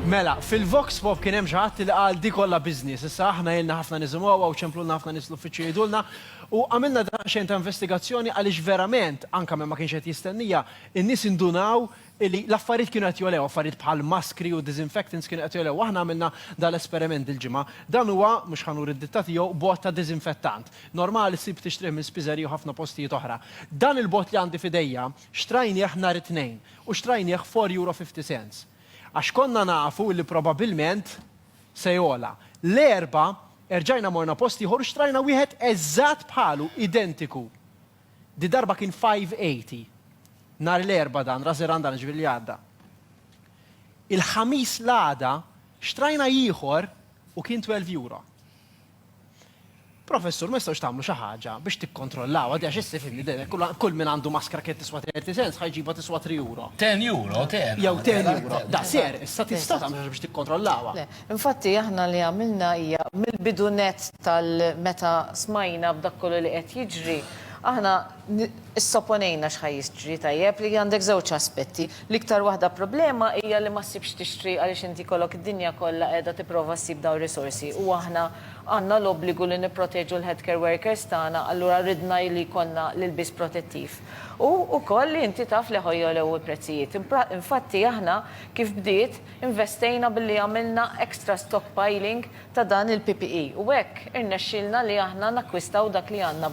Mela, fil-Vox Pop kien hemm xi ħadd li qal di kollha business. Issa aħna ilna ħafna nisimgħuha u ċemplulna ħafna nies l-uffiċċju jgħidulna u għamilna daqsxejn ta' investigazzjoni għaliex verament, anke minn ma kienx qed jistennija, in-nies indunaw li l-affarijiet kienu qed jogħlew, affarijiet bħal maskri u disinfectants kienu qed jogħlew. Aħna għamilna dan l-esperiment dil-ġimgħa. Dan huwa, mhux ħa nuri d-ditta tiegħu, bogħod ta' disinfettant. Normali ssib tixtrih minn spiżeriji u ħafna postijiet oħra. Dan il-bogħod li għandi f'idejja xtrajnieh nhar it-Tnejn. U xtrajnieh f'four euro fifty cents. Għax konna nafu li probabilment se jogħla. L-Erbgħa erġajna morna post ieħor u xtrajna wieħed eżatt bħalu, identiku. Di darba kien five eighty. Nhar l-Erbgħa dan, Ras Grandan, ġifieri li għadda. Il-Ħamis l-għada xtrajna ieħor u kien twelve euro. Professur, ma jistgħux tagħmlu xi ħaġa biex tikkontrollawha di għax issa fimni dejjem hekk kull min għandu maskra kienet tiswa 30 cents ħa jġibha tiswa 3 euro. 10 euro, 10. Jew 10 euro. Daqshekk, issa tista' tagħmel xi ħaġa biex tikkontrollawha. Le. Infatti aħna li għamilna hija mill-bidu nett tal-meta smajna b'dak kollu li qed jiġri, aħna, Issopponejna x'ħa jiġri, tajjeb, li għandek żewġ aspetti. L-iktar waħda problema hija li ma ssibx tixtri għaliex inti jkollok id-dinja kollha qiegħda tipprova ssib dawn risorsi u aħna għandna l-obbligu li nipproteġu l-headcare workers tagħna allura ridna li jkollna l-ilbies protettiv. U wkoll li inti taf li ħa jogħlew il-prezzijiet. Infatti aħna kif bdiet investejna billi għamilna extra stockpiling ta' dan il-PPE u hekk irnexxielna li aħna nakkwistaw dak li għandna